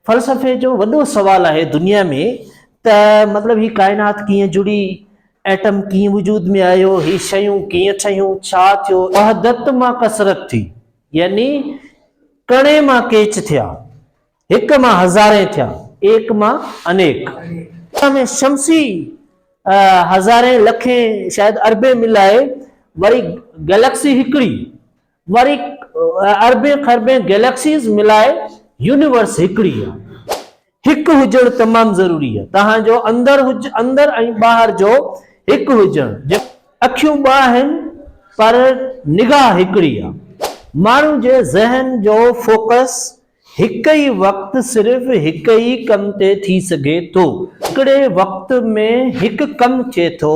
فلسفي جو وڏو سوال آهي دنيا ۾ ته مطلب هي ڪائنات ڪيئن جڙي، ايٽم ڪيئن وجود ۾ آيو، هي شيون ڪيئن ٺهيون، ڇا ٿيو، وحدت مان ڪثرت ٿي يعني ڪڻي مان ڪيچ ٿيا، هڪ مان هزارين ٿيا، ايڪ مان انيڪ، ان ۾ شمسي هزارين، لکين، شايد اربين ملائي وري گئليڪسي هڪڙي. وري اربين خربين گيليڪسيز ملائي يونيورس هڪڙي آهي. هڪ هجڻ تمام ضروري آهي. توهان جو اندر اندر ۽ ٻاهر جو هڪ هجڻ. اکيون ٻه آهن پر نگاهه هڪڙي آهي. ماڻهو جي ذهن جو فوڪس هڪ ئي وقت صرف هڪ ئي ڪم تي ٿي سگهي ٿو. هڪڙي وقت ۾ هڪ ڪم ٿئي ٿو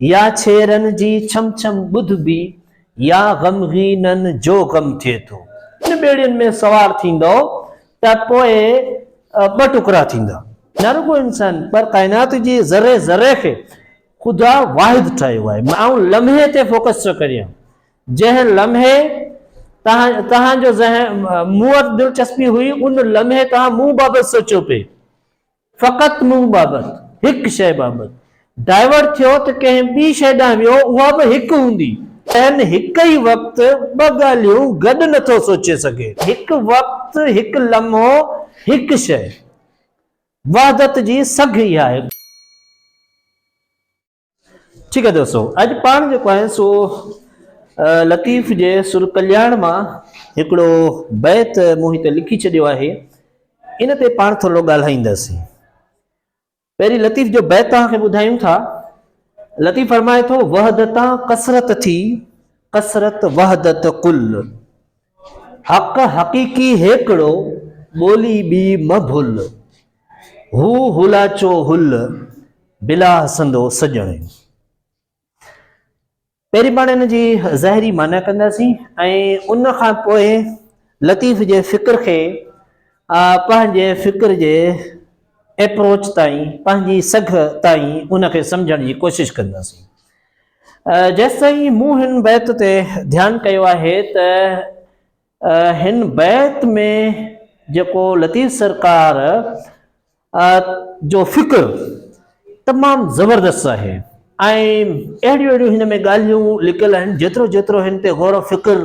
يا ڇيرن جي ڇم ڇم ٻڌبي يا غمغينن جو غم ٿئي ٿو. ان ٻيڙين ۾ سوار ٿيندؤ ته پوء ٻه ٽڪرا ٿيندا. نه رڳو انسان پر ڪائنات جي ذري ذري کي خدا واحد ٺاهيو آهي. آئون لمحي تي فوڪس ٿو ڪريان. جنهن لمحي توهان توهان جو ذهن مون وٽ دلچسپي هئي ان لمحي توهان مون بابت سوچيو پئي. فقط منهن بابت، هڪ شيء بابت، ڊائيورٽ ٿيو ته ڪنهن ٻي شيء ڏانهن ويو، اها به هڪ هوندي. ذهن هڪ ئي وقت ٻه ڳالهيون گڏ نه ٿو سوچي سگهي. هڪ وقت، هڪ لمحو، هڪ شيء. وحدت جي سگهه اها آهي. ٺيڪ آهي دوستو اڄ پاڻ جيڪو آهي سو لطيف جي سر ڪلياڻ مان هڪڙو بيت مون هتي لکي ڇڏيو آهي ان تي پاڻ ٿورو ڳالهائينداسين پهرين لطيف جو بيت توهان کي ٻڌايون ٿا لطيف فرمائي ٿو وحدتان ڪثرت ٿي ڪثرت وحدت قل حق حقيقي هيڪڙو، ٻولي ٻي مه ڀل. هو هولاچو هل، بلاه سندو سڄڻ. پهرين پاڻ ان جي ظاهري معنيٰ ڪنداسين ۽ ان کان پوء لطيف جي فڪر کي پنهنجي فڪر جي ايپروچ تائين، پنهنجي سگهه تائين ان کي سمجهڻ جي ڪوشش ڪنداسين. جيستائين مون هن بيت تي ڌيان ڪيو آهي ته هن بيت ۾ جيڪو لطيف سرڪار جو فڪر تمام زبردست آهي ۽ اهڙيون اهڙيون هن ۾ ڳالهيون لڪل آهن جيترو جيترو هن تي غور و فڪر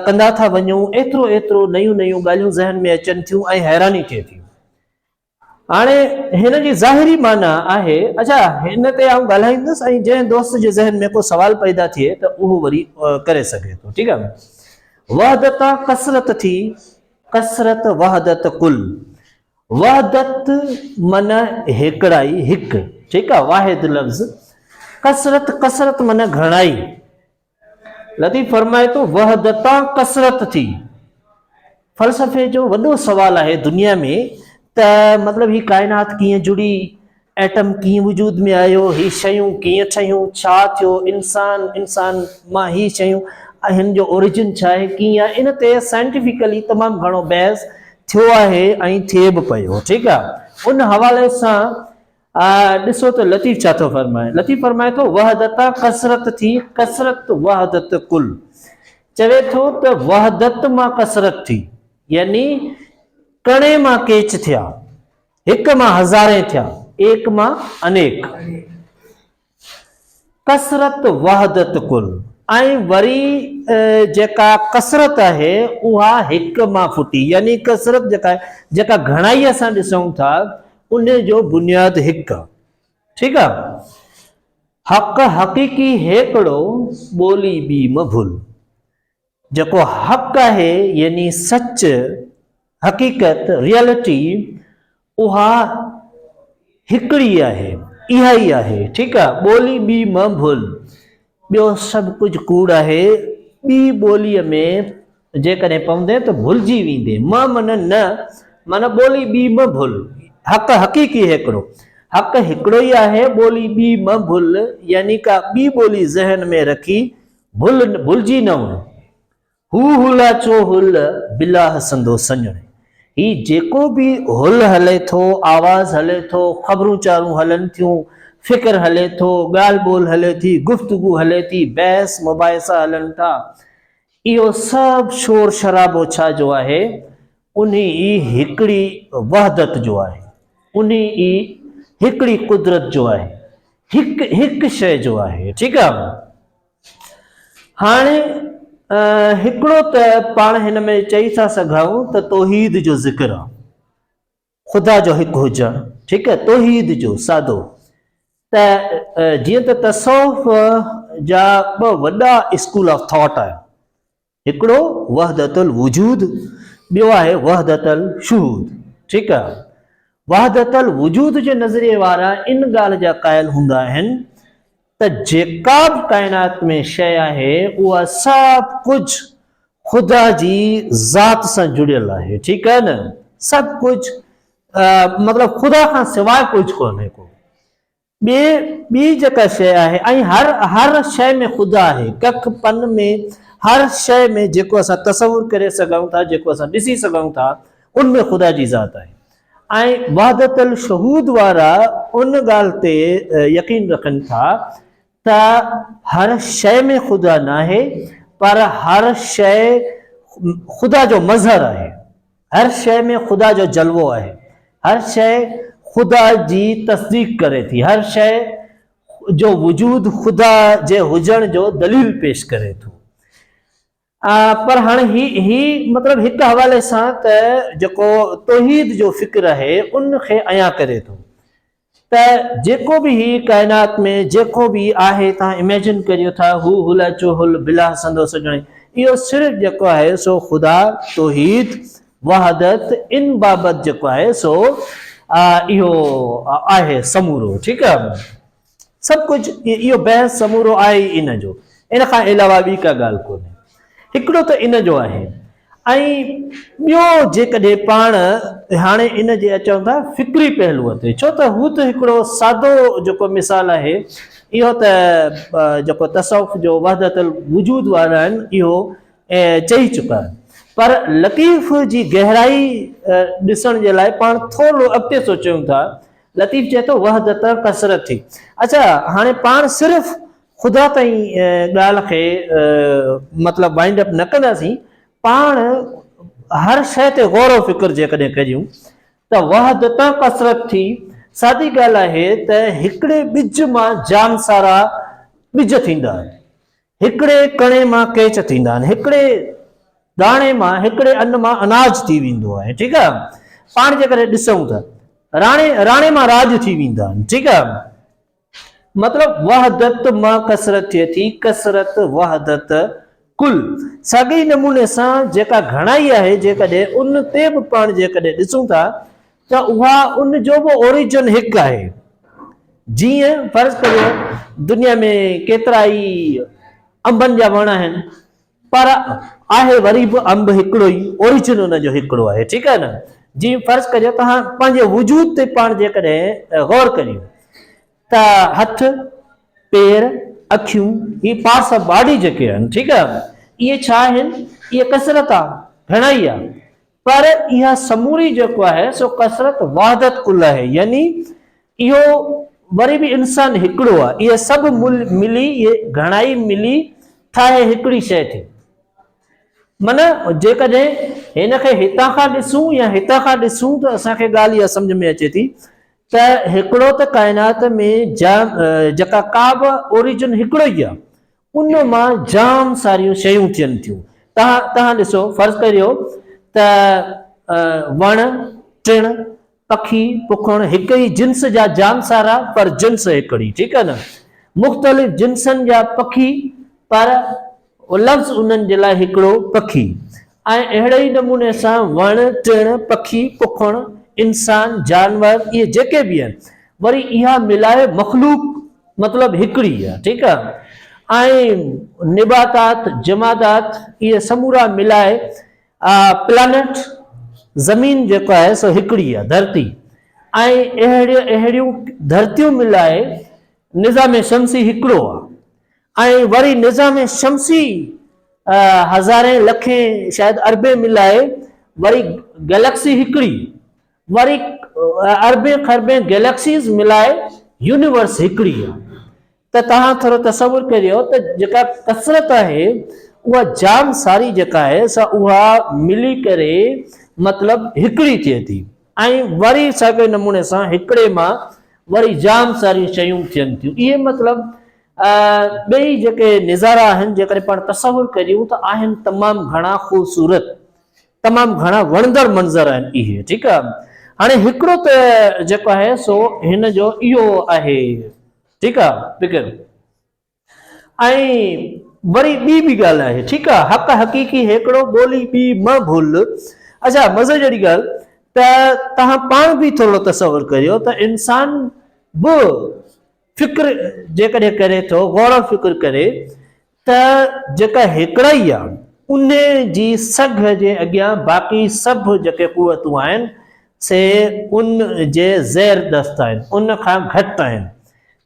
ڪندا ٿا وڃون ايترو ايترو نيون نيون ڳالهيون ذهن ۾ اچن ٿيون ۽ حيراني ٿئي ٿي هاڻي هن جي ظاهري معنيٰ آهي، اجها هن تي آئون ڳالهائيندس ۽ جنهن دوست جي ذهن ۾ ڪو سوال پيدا ٿئي ته اهو وري ڪري سگهي ٿو. ٺيڪ آهي. وحدت آن ڪثرت ٿي، ڪثرت وحدت ڪل. وحدت معنيٰ هيڪڙائي، هڪ. ٺيڪ آهي. واحد لفظ. ڪثرت، ڪثرت معنيٰ گهڻائي. لطيف فرمائي ٿو، وحدتان ڪثرت ٿي. فلسفي جو وڏو سوال آهي دنيا ۾ ته مطلب هي ڪائنات ڪيئن جڙي، ايٽم ڪيئن وجود ۾ آيو، هي شيون ڪيئن ٺهيون، ڇا ٿيو انسان، انسان مان هي شيون ۽ هن جو اوريجن ڇا آهي، ڪيئن آهي، ان تي سائنٽيفڪلي تمام گهڻو بحث ٿيو آهي ۽ ٿئي به پيو، ٺيڪ آهي، ان حوالي سان آء ڏسو ته لطيف ڇا ٿو فرمائي. لطيف فرمائي ٿو، وحدتا ڪثرت ٿي، ڪثرت وحدت ڪل. چوي ٿو ته وحدت مان ڪثرت ٿي، يعني ڪڻي مان ڪيچ ٿيا، هڪ مان هزارين ٿيا، ايڪ مان انيڪ. ڪثرت وحدت ڪل ۽ وري جيڪا ڪثرت آهي اها هڪ مان ڦٽي يعني ڪثرت جيڪا آهي جيڪا گهڻائي اسان ڏسون ٿا ان جو بنياد هڪ ٺيڪ آ حق حقيقي هيڪڙو ٻولي ٻي مڀل جيڪو حق آهي يعني سچ، حقيقت، Reality، اها هڪڙي آهي، اها ئي آهي، ٺيڪ آهي، ٻولي ٻي مه ڀول، ٻيو سڀ ڪجهه ڪوڙ آهي، ٻي ٻوليء ۾ جيڪڏهن پوندين ته ڀلجي ويندين، مه معنيٰ نه، معنيٰ ٻولي ٻي مه ڀول، حق حقيقي هڪڙو، حق هڪڙو ئي آهي، ٻولي ٻي مه ڀول يعني ڪا ٻي ٻولي ذهن ۾ رکي ڀل ڀلجي نه وڃ هو هلا چو هل بلا هسندو سڃڻ هي جيڪو به هل هلي ٿو آواز هلي ٿو خبرون چارون هلن ٿيون فڪر هلي ٿو ڳالهه ٻولهه هلي ٿي گفتگو هلي ٿي بحث مباحثا هلن ٿا اهو سڀ شور شرابو ڇا جو آهي انهي ئي هڪڙي وحدت جو آهي، انهي ئي هڪڙي قدرت جو آهي، هڪ هڪ شيء جو آهي، ٺيڪ آ. هاڻي هڪڙو ته پاڻ هن ۾ چئي ٿا سگهائون ته توحيد جو ذڪر آ، خدا جو هڪ هجڻ، ٺيڪ آهي، توحيد جو، سادو، ته جيئن ته تصوف جا ٻه وڏا اسڪول آف ٿاٽ آهن، هڪڙو وحدت الوجود، ٻيو آهي وحدت الشهود، ٺيڪ آهي، وحدت الوجود جي نظريي وارا ان ڳالهه جا قائل هوندا آهن، ته جيڪا به ڪائنات ۾ شيء آهي، اها سڀ ڪجهه خدا جي ذات سان جڙيل آهي، ٺيڪ آهي نه؟ سڀ ڪجهه مطلب خدا کان سواء ڪجهه ڪونهي ڪو ٻي ٻي جيڪا شيء آهي ۽ هر هر شيء ۾ خدا آهي، ڪک پن ۾ هر شيء ۾ جيڪو اسان تصور ڪري سگهون ٿا، جيڪو اسان ڏسي سگهون ٿا، ان ۾ خدا جي ذات آهي. ۽ وحدت الشهود وارا ان ڳالهه تي يقين رکن ٿا ته هر شيء ۾ خدا ناهي پر هر شيء خدا جو مظهر آهي، هر شيء ۾ خدا جو جلوو آهي، هر شيء خدا جي تصديق ڪري ٿي، هر شيء جو وجود خدا جي هجڻ جو دليل پيش ڪري ٿو. پر هاڻي هي هي مطلب هڪ حوالي سان ته جيڪو توحيد جو فڪر آهي ان کي عيان ڪري ٿو ته جيڪو به هي ڪائنات ۾ جيڪو به آهي تان اميجن ڪريو ٿا هو هل اچو هل بلا سندو سڄڻي اهو صرف جيڪو آهي سو خدا توحيد وحدت ان بابت جيڪو آهي سو اهو آهي سمورو ٺيڪ آهي سڀ ڪجهه اهو بحث سمورو آهي ئي ان جو، ان کان علاوه ٻي ڪا ڳالهه ڪونهي. هڪڙو ته ان جو آهي ۽ ٻيو جيڪڏهن پاڻ هاڻي ان جي اچون ٿا فڪري پهلوء تي ڇو ته هو ته هڪڙو سادو جيڪو مثال آهي اهو ته جيڪو تصوف جو وحدت الوجود وارا آهن اهو چئي چڪا آهن پر لطيف جي گهرائي ڏسڻ جي لاء پاڻ ٿورڙو اڳتي سوچيون ٿا لطيف چئي ٿو وحدت ڪثرت ٿي. اچا هاڻي پاڻ صرف خدا تائين ڳالهه کي مطلب وائنڊ اپ نه ڪنداسين، پاڻ هر شيء تي غور و فڪر جيڪڏهن ڪجون ته وحدت ڪثرت ٿي. سادي ڳالهه آهي ته هڪڙي ٻج مان جام سارا ٻج ٿيندا. هڪڙي ڪڻي مان ڪيچ ٿيندا آهن، هڪڙي داڻي مان، هڪڙي ان مان اناج ٿي ويندو آهي، ٺيڪ آهي، پاڻ جيڪڏهن ڏسون ته راڻي، راڻي مان راڄ ٿي ويندا آهن، ٺيڪ آهي، مطلب وحدت مان ڪثرت ٿئي ٿي، ڪثرت وحدت ڪل، ساڳئي نموني سان جيڪا گهڻائي آهي جيڪڏهن ان تي به پاڻ جيڪڏهن ڏسون ٿا ته اها ان جو به اوريجن هڪ آهي. جيئن فرض ڪريو دنيا ۾ ڪيترائي انبن جا وڻ آهن پر آهي وري به انب هڪڙو ئي اوريجن ان جو هڪڙو آهي ٺيڪ آهي نه جي فرض ڪريو توهان پنهنجي وجود تي پاڻ جيڪڏهن غور ڪريو ته هٿ پير اکيون هي پارٽس آف باڊي جيڪي آهن ٺيڪ آهي اهي ڇا آهن اهي ڪثرت آهي گهڻائي آهي پر اها سموري جيڪو آهي سو ڪثرت وحدت ڪل آهي يعني اهو وري به انسان هڪڙو آهي اهي سڀ مل ملي اهي گهڻائي ملي ٺاهي هڪڙي شيء ٿي معنيٰ جيڪڏهن هن کي هتان کان ڏسون يا هتان کان ڏسون ته اسان کي ڳالهه اها سمجھ ۾ اچي ٿي ته هڪڙو ته ڪائنات ۾ جا جيڪا ڪا به اوريجن هڪڙو ئي آهي ان مان جام ساريون شيون ٿين ٿيون. توهان توهان ڏسو فرض ڪريو ته وڻ، ٽڻ، پکي، پکڻ هڪ ئي جنس جا جام سارا پر جنس هڪڙي ٺيڪ آهي نه مختلف جنسن جا پکي پر لفظ انهن جي لاء هڪڙو پکي ۽ اهڙي ئي نموني سان وڻ ٽڻ، پکي، پکڻ، انسان، جانور اهي جيڪي به آهن وري اها ملائي مخلوق مطلب هڪڙي آهي ٺيڪ آهي ۽ نباتات، جمادات اهي سمورا ملائي پلانيٽ زمين جيڪو آهي سو هڪڙي آهي ڌرتي ۽ اهڙيون اهڙيون ڌرتيون ملائي نظام شمسي هڪڙو آهي ۽ وري نظام شمسي هزارين لکين شايد اربين ملائي وري گئليڪسي هڪڙي وري اربين کربين گئليڪسيز ملائي يونيورس هڪڙي آ ته توهان ٿورو تصور ڪريو ته جيڪا ڪثرت آهي اها جام ساري جيڪا آهي سا اها ملي ڪري مطلب هڪڙي ٿئي ٿي ۽ وري ساڳئي نموني سان هڪڙي مان وري جام ساريون شيون ٿين ٿيون اهي مطلب ٻئي جيڪي نظارا آهن جيڪڏهن پاڻ تصور ڪريون ته آهن تمام گهڻا خوبصورت تمام گهڻا وڻندڙ منظر آهن اهي ٺيڪ آهي هاڻي هڪڙو ته جيڪو آهي سو هن جو اهو آهي ٺيڪ آهي فڪر ۽ وري ٻي به ڳالهه آهي ٺيڪ آهي حق حقيقي هيڪڙو ٻولي ٻي مه ڀول اچا مزي جهڙي ڳالهه ته توهان پاڻ به ٿورڙو تصور ڪريو ته انسان به فڪر جيڪڏهن ڪري ٿو، غور و فڪر ڪري ته جيڪا هيڪڙائي آ، ان جي سگهه جي اڳيان باقي سڀ جيڪي قوتون آهن، سي ان جي زير دست آهن، ان کان گهٽ آهن.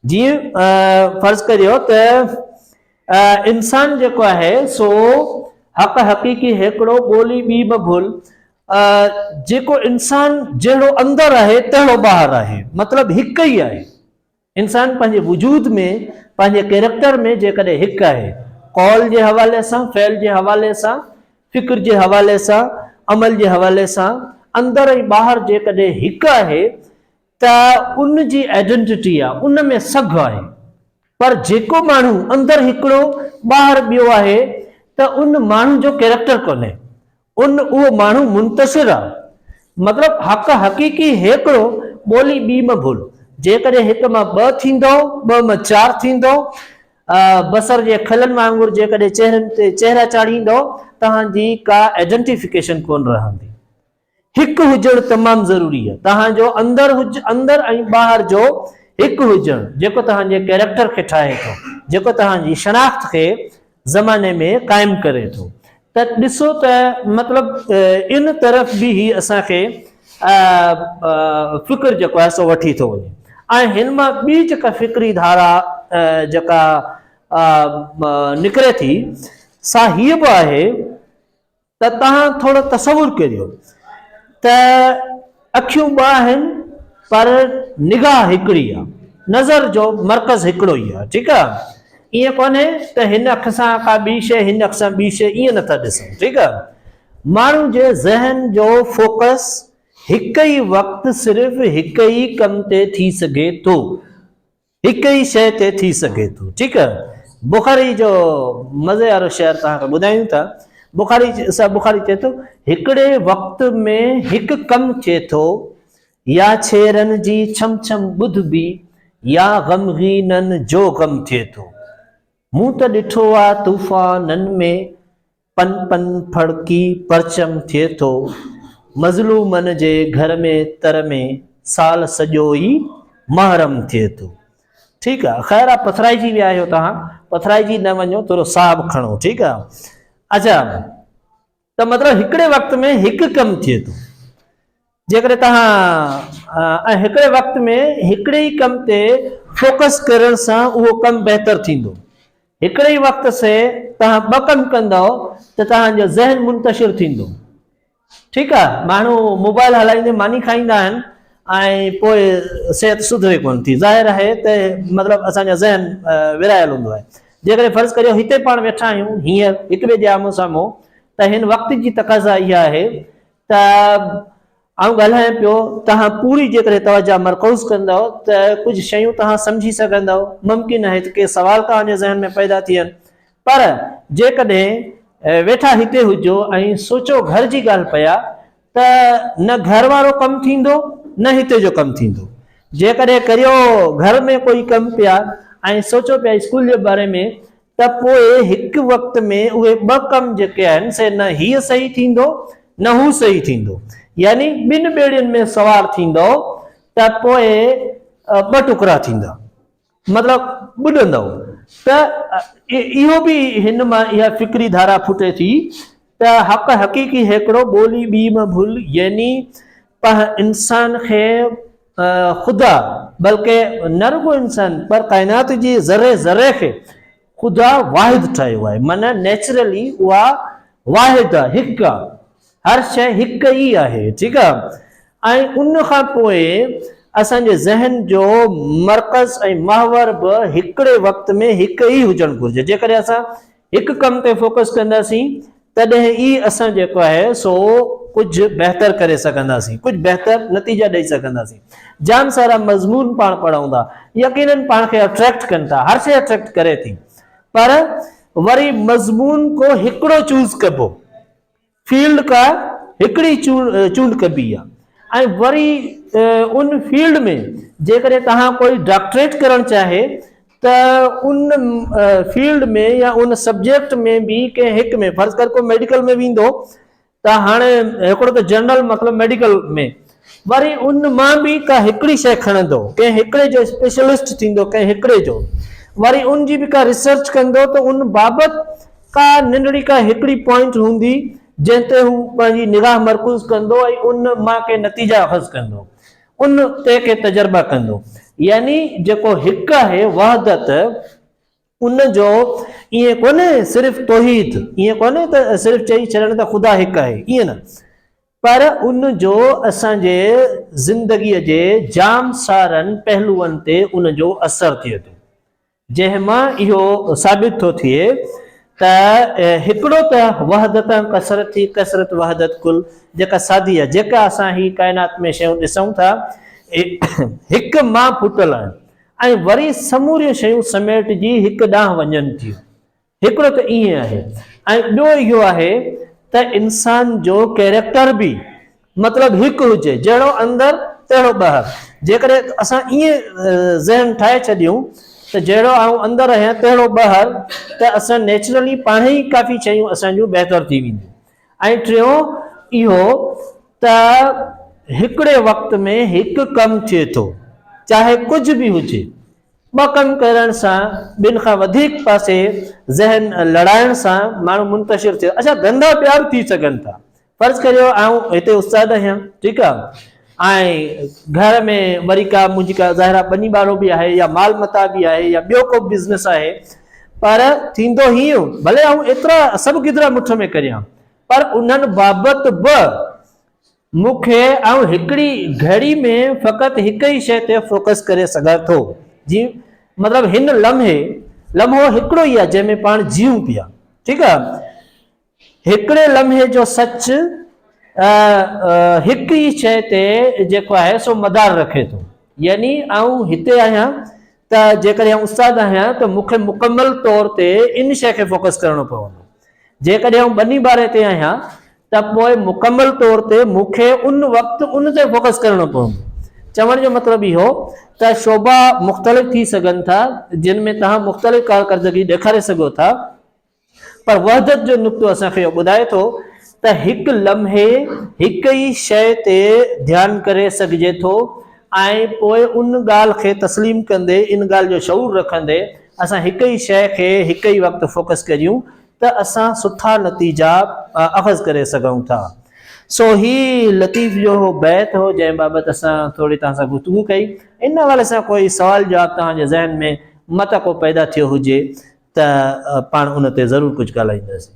جيئن فرض ڪريو ته انسان جيڪو آهي سو حق حقيقي هيڪڙو، ٻولي ٻي به ڀل، آ جيڪو انسان جهڙو اندر آهي تهڙو ٻاهر آهي مطلب هڪ ئي آهي انسان پنهنجي وجود ۾ پنهنجي ڪيريڪٽر ۾ جيڪڏهن هڪ آهي قول جي حوالي سان فعل جي حوالي سان فڪر جي حوالي سان عمل جي حوالي سان اندر ۽ ٻاهر جيڪڏهن هڪ آهي ته ان جي آئيڊنٽي آ ان ۾ سگهه آهي پر جيڪو ماڻهو اندر هڪڙو ٻاهر ٻيو آهي ته ان ماڻهو جو ڪيريڪٽر ڪونهي ان اهو ماڻهو منتصر آ. مطلب حق حقيقي هيڪڙو، ٻولي ٻي م ڀول. جيڪڏهن هڪ مان ٻه ٿيندؤ، ٻه م چار ٿيندؤ، بصر جي کلن وانگر جيڪڏهن چهرن تي چهرا چاڙهيندؤ، توهان جي ڪا Identification ڪونه رهندي. هڪ هجڻ تمام ضروري آ. توهان جو اندر اندر ۽ ٻاهر جو هڪ هجڻ، جيڪو توهان جي ڪيريڪٽر کي ٺاهي ٿو، جيڪو توهان جي شناخت کي زماني ۾ قائم ڪري ٿو ته ڏسو ته مطلب ان طرف به هي اسان کي فڪر جيڪو آهي سو وٺي ٿو وڃي ۽ هن مان ٻي جيڪا فڪري ڌارا جيڪا نڪري ٿي سا هيء به آهي ته توهان ٿورو تصور ڪريو ته اکيون ٻه آهن پر نگاهه هڪڙي آ نظر جو مرڪز هڪڙو ئي آ ٺيڪ آ ائين ڪونهي ته هن اک سان ڪا ٻي شي هن اک سان ٻي شي ائين نٿا ڏسون ٺيڪ آ ماڻهو جي ذهن جو فوڪس هڪ ئي وقت صرف هڪ ئي ڪم تي ٿي سگهي ٿو. هڪ ئي شيء تي ٿي سگهي ٿو. ٺيڪ آهي. بخاري جو مزي وارو شعر توهان کي ٻڌايون ٿا. بخاري صاحب بخاري چئي ٿو، هڪڙي وقت ۾ هڪ ڪم ٿئي ٿو، يا ڇيرن جي ڇم ڇم ٻڌبي، يا غمغينن جو غم ٿئي ٿو. مون ته ڏٺو آ طوفانن ۾. پن پن ڦڙڪي پرچم ٿئي ٿو. مظلومن جي گهر ۾ تر ۾ سال سڄو ئي محرم ٿئي ٿو. ٺيڪ آ خير آ پٿرائجي ويا آهيو توهان پٿرائجي نه وڃو ٿورو ساهه به کڻو ٺيڪ آ اچا ته مطلب هڪڙي وقت ۾ هڪ ڪم ٿئي ٿو جيڪڏهن توهان ۽ هڪڙي وقت ۾ هڪڙي ئي ڪم تي فوڪس ڪرڻ سان اهو ڪم بهتر ٿيندو. هڪڙي ئي وقت سي توهان ٻه ڪم ڪندؤ ته توهان جو ذهن منتشر ٿيندو. ٺيڪ آ ماڻهو موبائل هلائيندي ماني کائيندا آهن ۽ پوء صحت سڌري ڪونه ٿي. ظاهر آهي ته مطلب اسان جو ذهن ورهايل هوندو آهي. جيڪڏهن فرض ڪريو هتي پاڻ ويٺا آهيون هينئر هڪٻئي جي آمهون سامهون ته هن وقت جي تقاضا اها آهي ته آئون ڳالهايان پيو، توهان پوري جيڪڏهن توجهه مرڪوز ڪندؤ ته ڪجهه شيون توهان سمجهي سگهندؤ، ممڪن آهي ته ڪي سوال توهان جي ذهن ۾ پيدا ٿين، پر جيڪڏهن ويٺا هتي هجو ۽ سوچو گهر جي ڳالهه پيا ته نه گهر وارو ڪم ٿيندو نه هتي جو ڪم ٿيندو، جيڪڏهن ڪريو گهر ۾ ڪوئي ڪم پيا ۽ سوچو پيا اسڪول جي باري ۾ ته پوء هڪ وقت ۾ اهي ٻه ڪم جيڪي آهن سي نه هيء صحيح ٿيندو نه هو صحيح ٿيندو يعني ٻن ٻيڙين ۾ سوار ٿيندؤ ته پوء ٻه ٽڪرا ٿيندا مطلب ٻڏندؤ ته اهو به هن مان اها فڪري ڌارا ڦٽي ٿي ته حق حقيقي هيڪڙو ٻولي ٻي م ڀل يعني پنهن انسان کي خدا بلڪ نه رڳو انسان پر ڪائنات جي ذري ذري کي خدا واحد ٺاهيو آهي معنيٰ نيچرلي اها واحد آهي هڪ آهي هر شيء هڪ ئي آهي ٺيڪ آهي ۽ ان کان پوء اسان جي ذهن جو مرڪز ۽ محور به هڪڙي وقت ۾ هڪ ئي هجڻ گهرجي جيڪڏهن اسان هڪ ڪم تي فوڪس ڪنداسين تڏهن ئي اسان جيڪو آهي سو ڪجهه بهتر ڪري سگهنداسين ڪجهه بهتر نتيجا ڏئي سگهنداسين جام سارا مضمون پاڻ پڙهون ٿا يقينن پاڻ کي اٽريڪٽ ڪن ٿا هر شي اٽريڪٽ ڪري ٿي پر وري مضمون ڪو هڪڙو چوز ڪبو فيلڊ ڪا هڪڙي چونڊ ڪبي آ ۽ وري ان فيلڊ ۾ جيڪڏهن توهان ڪوئي ڊاڪٽريٽ ڪرڻ چاهي ته ان فيلڊ ۾ يا ان سبجيڪٽ ۾ به ڪنهن هڪ ۾ فرض ڪر ڪو ميڊيڪل ۾ ويندو ته هاڻي هڪڙو ته جنرل مطلب ميڊيڪل ۾ وري ان مان به ڪا هڪڙي شيء کڻندو، ڪنهن هڪڙي جو اسپيشلسٽ ٿيندو، ڪنهن هڪڙي جو، وري ان جي به ڪا ريسرچ ڪندو ته ان بابت ڪا ننڍڙي ڪا هڪڙي پوائنٽ هوندي، جنهن تي هو پنهنجي نگاهه مرڪوز ڪندو ۽ ان مان ڪي نتيجا اخذ ڪندو، ان تي ڪي تجربا ڪندو. يعني جيڪو هڪ آهي وحدت، ان جو ائين ڪونهي صرف توحيد، ائين ڪونهي ته صرف چئي ڇڏڻ ته خدا هڪ آهي، ائين نه، پر ان جو اسان جي زندگيء جي جام سارن پهلوئن تي ان جو اثر ٿئي ٿو، جنهن مان اهو ثابت ٿو ٿئي ته هڪڙو ته وحدت ۽ ڪثرت هي ڪثرت وحدت ڪل جيڪا سادي آهي، جيڪا اسان هي ڪائنات ۾ شيون ڏسون ٿا، اهي هڪ مان ڦٽل آهن ۽ وري سموريون شيون سميٽجي هڪ ڏانهن وڃن ٿيون، هڪڙو ته ائين آهي ۽ ٻيو اهو آهي ته انسان جو ڪيريڪٽر به مطلب هڪ هجي، جهڙو اندر تهڙو ٻاهر، جيڪڏهن اسان ائين ذهن ٺاهي ڇڏيون ته جهڙو آئون اندر آهيان تهڙو ٻاهر ته اسان نيچرلي پاڻهي ئي ڪافي شيون اسان جون بهتر ٿي وينديون ۽ ٽيون اهو ته هڪڙي وقت ۾ هڪ ڪم ٿئي ٿو چاهي ڪجهه به هجي. ٻه ڪم ڪرڻ سان ٻن کان وڌيڪ پاسي ذهن لڙائڻ سان ماڻهو منتشر ٿئي اڇا ڌنڌا ٻيا به ٿي سگهن ٿا فرض ڪريو آئون هتي استاد آهيان ٺيڪ آ ۽ گهر ۾ وري ڪا منهنجي ڪا ظاهرا ٻني ٻارو به آهي يا مال متاع به آهي يا ٻيو ڪو بزنس آهي پر ٿيندو هي ڀلي آئون ايترا سڀ گدرا مٺ ۾ ڪريان پر انهن بابت به مون کي آئون هڪڙي گهڙي ۾ فقط هڪ ئي شيء تي فوڪس ڪري سگهان ٿو جي مطلب هن لمحي لمحو هڪڙو ئي آهي جنهن ۾ پاڻ جيئون پيا ٺيڪ آهي هڪڙي لمحي جو سچ هڪ ئي شيء تي جيڪو آهي سو مدار رکي ٿو يعني آئون هتي آهيان ته جيڪڏهن استاد آهيان ته مون کي مڪمل طور تي ان شيء کي فوڪس ڪرڻو پوندو جيڪڏهن آئون ٻني ٻاري تي آهيان ته پوء مڪمل طور تي مون کي ان وقت ان تي فوڪس ڪرڻو پوندو. چوڻ جو مطلب اهو ته شعبا مختلف ٿي سگهن ٿا جن ۾ توهان مختلف ڪارڪردگي ڏيکاري سگهو ٿا پر وحدت جو نقطو اسان کي اهو ٻڌائي ٿو ته هڪ لمحي هڪ ئي شيء تي ڌيان ڪري سگهجي ٿو ۽ پوء ان ڳالهه کي تسليم ڪندي ان ڳالهه جو شعور رکندي اسان هڪ ئي شيء کي هڪ ئي وقت فوڪس ڪريون ته اسان سٺا نتيجا اخذ ڪري سگهون ٿا. سو هي لطيف جو اهو بيت هو جنهن بابت اسان ٿوري توهان سان گفتگو ڪئي. ان حوالي سان ڪوئي سوال جواب توهان جي ذهن ۾ متان ڪو پيدا ٿيو هجي ته پاڻ ان تي ضرور ڪجهه ڳالهائينداسين.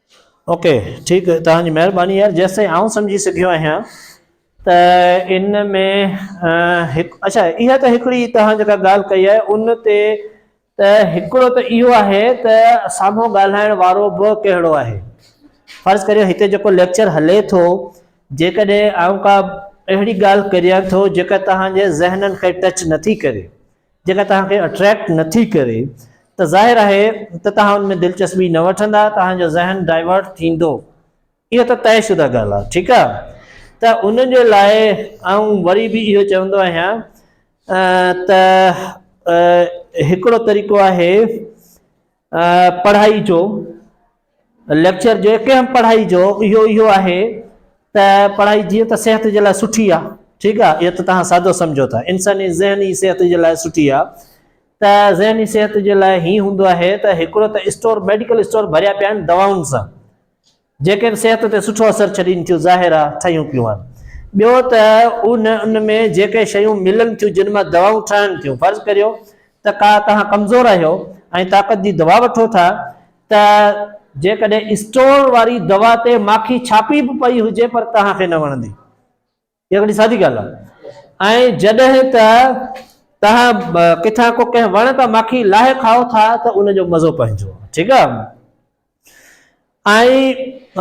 اوڪي ٺيڪ توهان جي مهرباني يار جيستائين آئون سمجهي سگهيو آهيان ته ان ۾ هڪ اڇا اها ته هڪڙي توهان جيڪا ڳالهه ڪئي آهي ان تي ته هڪڙو ته اهو آهي ته سامهون ڳالهائڻ وارو به ڪهڙو آهي فرض ڪريو هتي جيڪو ليڪچر هلي ٿو جيڪڏهن آئون ڪا اهڙي ڳالهه ڪريان ٿو جيڪا توهان جي ذهنن کي ٽچ نٿي ڪري جيڪا توهان کي اٽريڪٽ نه ٿي ڪري ته ظاهر آهي ته توهان ان ۾ دلچسپي نه وٺندا، توهان جو ذهن ڊائيورٽ ٿيندو، اهو ته طئي شده ڳالهه آهي، ٺيڪ آهي، ته ان جي لاء آئون وري به اهو چوندو آهيان ته هڪڙو طريقو آهي پڙهائي جو ليڪچر جو هڪ اهم پڙهائي جو اهو اهو آهي ته پڙهائي جيئن ته صحت جي لاء سٺي آهي ٺيڪ آهي اهو ته توهان سادو سمجهو ٿا انساني ذهني صحت جي لاء سٺي آهي ته ذهني صحت جي لاء هي هوندو آهي ته هڪڙو ته اسٽور ميڊيڪل اسٽور ڀريا پيا آهن دواؤن سان جيڪن صحت تي سٺو اثر ڇڏين ٿيون ظاهر آ ٺهيون پيون آهن ٻيو ته ان ان ۾ جيڪي شيون ملن ٿيون جن مان دوائون ٺهن ٿيون فرض ڪريو ته ڪا توهان ڪمزور آهيو ۽ طاقت جي دوا وٺو ٿا ته جيڪڏهن اسٽور واري دوا تي ماکي ڇاپي به پئي هجي پر توهان کي نه وڻندي. اها وڏي سادي ڳالهه آهي ۽ جڏهن ته توهان ڪٿان ڪو ڪنهن وڻ تان ماکي لاهي کائو ٿا ته ان جو مزو پنهنجو آهي ٺيڪ آهي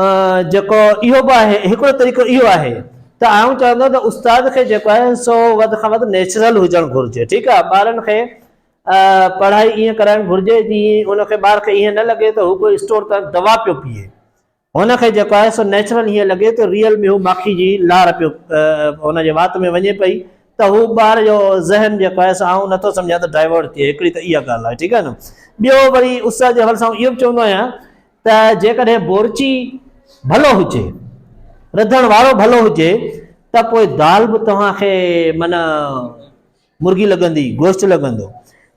۽ جيڪو اهو به آهي هڪڙو طريقو اهو آهي ته آئون چوندو ته استاد کي جيڪو آهي سو وڌ کان وڌ نيچرل هجڻ گهرجي ٺيڪ آهي ٻارن کي پڙهائي ائين ڪرائڻ گهرجي جي ان کي ٻار کي ائين نه لڳي ته هو ڪو اسٽور تان دوا پيو پيئي هن کي جيڪو آهي سو نيچرل هيئن لڳي ته ريئل ۾ هو ماکي جي لار پيو هن جي وات ۾ وڃي پئي ته هو ٻار جو ذهن جيڪو آهي سو آئون نٿو سمجهان ته ڊائيورٽ ٿئي هڪڙي ته اها ڳالهه آهي ٺيڪ آهي نه ٻيو وري استاد جي حوالي سان اهو به چوندو آهيان ته جيڪڏهن بورچي ڀلو هجي رڌڻ وارو ڀلو هجي ته پوء دال به توهان کي معنی مرغي لڳندي گوشت لڳندو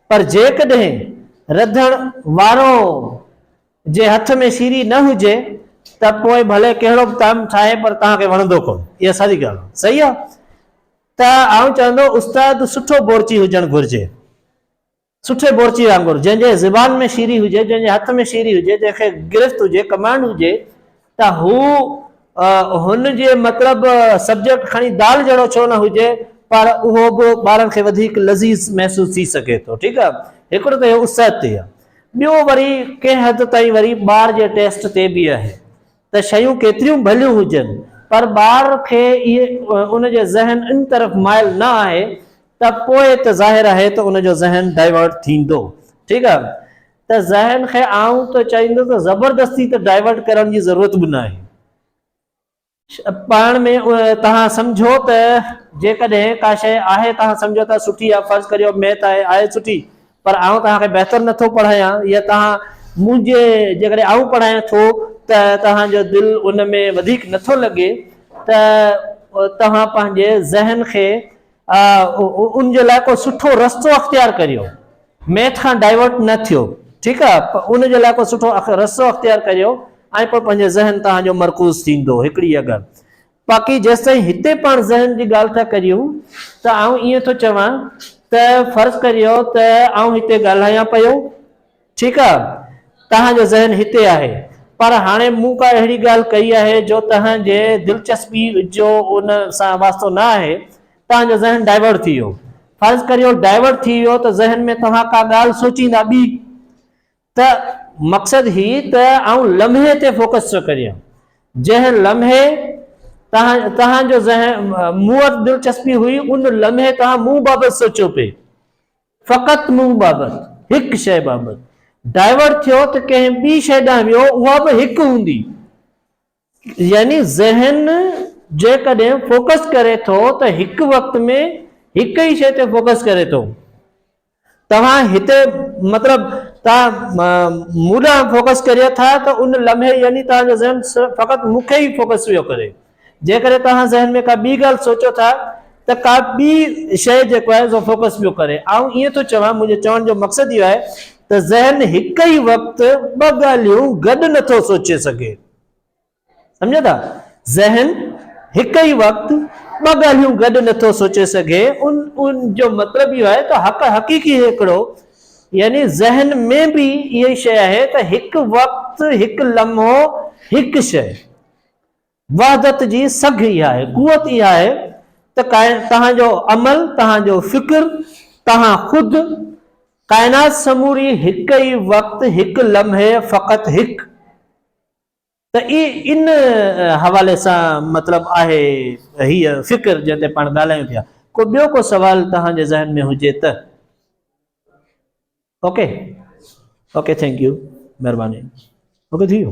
پر جيڪڏهن رڌڻ وارو جي هٿ ۾ سيري نه هجي ته پوء ڀلي ڪهڙو به طعم ٺاهي پر توهان کي وڻندو ڪونه. اها ساري ڳالهه صحيح آهي ته آئون چوندو استاد سٺو بورچي هجڻ گهرجي. سٺي بورچي وانگر جنهن جي زبان ۾ سيري هجي، جنهن جي هٿ ۾ سيري هجي، جنهن کي گرفت هجي، ڪمانڊ هجي، ته هو هن جي مطلب سبجيڪٽ کڻي دال جهڙو ڇو نه هجي پر اهو به ٻارن کي وڌيڪ لذيذ محسوس ٿي سگهي ٿو ٺيڪ آ هڪڙو ته اهو صحت تي آ ٻيو وري ڪنهن حد تائين وري ٻار جي ٽيسٽ تي به آهي ته شيون ڪيتريون ڀليون هجن پر ٻار کي ان جي ذهن ان طرف مائل نه آهي ته پوء ته ظاهر آهي ته ان جو ذهن ڊائيورٽ ٿيندو ٺيڪ آ ته ذهن کي آئون ته چئيندس ته زبردستي ته ڊائيورٽ ڪرڻ جي ضرورت به ناهي. پاڻ ۾ توهان سمجهو ته جيڪڏهن ڪا شيء آهي توهان سمجهو ٿا سٺي آهي فرض ڪريو ميٿ آهي آهي سٺي پر آئون توهان کي بهتر نٿو پڙهايان يا توهان منهنجي جيڪڏهن آئون پڙهايان ٿو ته توهان جو دل ان ۾ وڌيڪ نٿو لڳي ته توهان پنهنجي ذهن کي ان جي لاء ڪو سٺو رستو اختيار ڪريو ميٿ کان ڊائيورٽ نه ٿيو ٺيڪ آ ان جي لاء ڪو سٺو رستو اختيار ڪريو ۽ پوء پنهنجو ذهن توهان جو مرڪوز ٿيندو هڪڙي اهي ڳالهه باقي جيستائين هتي پاڻ ذهن جي ڳالهه ٿا ڪريون ته آئون ائين ٿو چوان ته فرض ڪريو ته آئون هتي ڳالهايان پيو ٺيڪ آ توهان جو ذهن هتي آهي پر هاڻي مون ڪا اهڙي ڳالهه ڪئي آهي جو توهان جي دلچسپي جو ان سان واسطو نه آهي توهان جو ذهن ڊائيورٽ ٿي ويو فرض ڪريو ڊائيورٽ ٿي ويو ته ذهن ۾ توهان ڪا ڳالهه سوچيندا ٻي ته مقصد هي ته آئون لمحي تي فوڪس ٿو ڪريان جنهن لمحي توهان توهان جو ذهن مون وٽ دلچسپي هئي ان لمحي توهان مون بابت سوچيو پئي فقط منهن بابت، هڪ شيء بابت، ڊائيورٽ ٿيو ته ڪنهن ٻي شيء ڏانهن ويو، اها به هڪ هوندي. يعني ذهن جيڪڏهن فوڪس ڪري ٿو ته هڪ وقت ۾ هڪ ئي شيء تي فوڪس ڪري ٿو. توهان هتي مطلب توهان مون ڏانهن فوڪس ڪريو ٿا ته ان لمحي يعني توهان جو ذهن فقط مون کي ئي فوڪس پيو ڪري. جيڪڏهن توهان ذهن ۾ ڪا ٻي ڳالهه سوچو ٿا ته ڪا ٻي شيء جيڪو آهي سو فوڪس پيو ڪري. آئون ائين ٿو چوان، منهنجي چوڻ جو مقصد اهو آهي ته ذهن هڪ ئي وقت ٻه ڳالهيون گڏ نه ٿو سوچي سگهي. سمجهو ٿا؟ ذهن هڪ ئي وقت ٻه ڳالهيون گڏ نه ٿو سوچي سگهي. ان ان جو مطلب اهو آهي ته حق حقيقي هيڪڙو يعني ذهن ۾ به اها ئي شيء آهي ته هڪ وقت، هڪ لمحو، هڪ شيء. وحدت جي سگهه اها آهي، قوت اها آهي ته توهان جو عمل، توهان جو فڪر، توهان خود، ڪائنات سموري هڪ ئي وقت، هڪ لمحي، فقط هڪ. ته ان حوالي سان مطلب آهي هيء فڪر جنهن تي پاڻ ڳالهايون پيا. ڪو ٻيو ڪو سوال توهان جي ذهن ۾ هجي ته؟ اوڪي اوڪي ٿينڪ يو مھرباني اوڪي ٿي ويو.